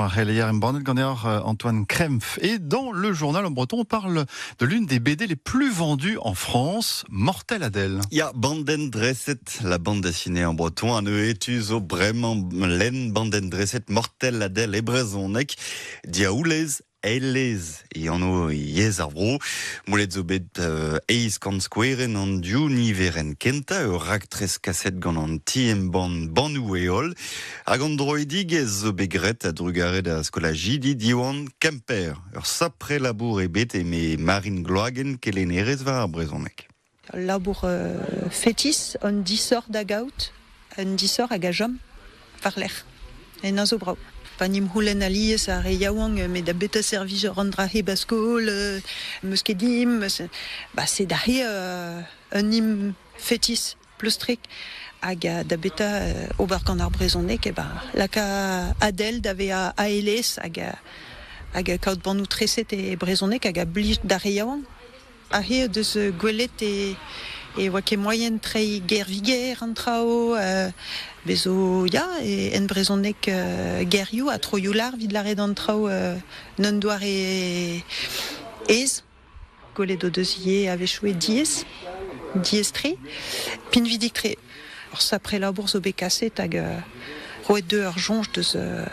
Ar c'heleier embannet ganeoc'h euh, Antoine Krempf. Et dans le journal en breton, on parle de l'une des BD les plus vendues en France, Mortel Adèle. Ya, Banden Dresset, la bande dessinée en breton, an etus o breman len Banden Dresset, Mortel Adèle e brezhoneg, diaoulez, eilez e anv yezh ar vro. Moulet zo bet uh, eiz kant skoueren an div niveren kentañ, ur raktres kaset gant an ti-embann Bannoù e holl. Hag an droidigezh zo bet graet a-drugarez da skolajidi Diwan Kemper. Ur sapre labour eo bet, eme Marine Gloagen, kelennerez war ar brezhoneg. Ul labour fetis, un disoc'h da gaout, un disoc'h hag a chom war-lerc'h. Ennañ zo brav. Pa 'n em c'houlenn alies ar re yaouank, met da betra servij an dra hep a skol, 'm eus ket dimp, ba se da c'he un him fetis. pleustrik hag da beta ober gant ar brezhoneg e ba laka Adèle da vezañ aelez hag hag kaout bannoù treset e brezhoneg hag a blij d'ar re yaouank. Ar re o deus gwelet e e oa ket moaien treiñ ger-viger an traoù, bez 'zo ya e en brezhoneg gerioù ha troioù lar 'vit lâret an traoù en un doare aes. Gwelet o deus ivez a-wechoù diaes, diaes-tre, pinvidik-tre. Ar sapre labour zo bet kaset hag euh, roet dezhe ur soñj deus euh,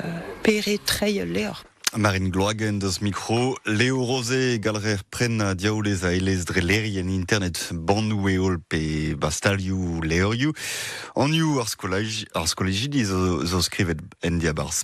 pere treiñ ul levr. Marine Gloag en deus mikro. Leo Rozé, galrer prenn diaoulez a elez dre lerien internet, bannoù e holl pe bastalioù levrioù. Anioù ar skolajidi zo skrivet en diabarzh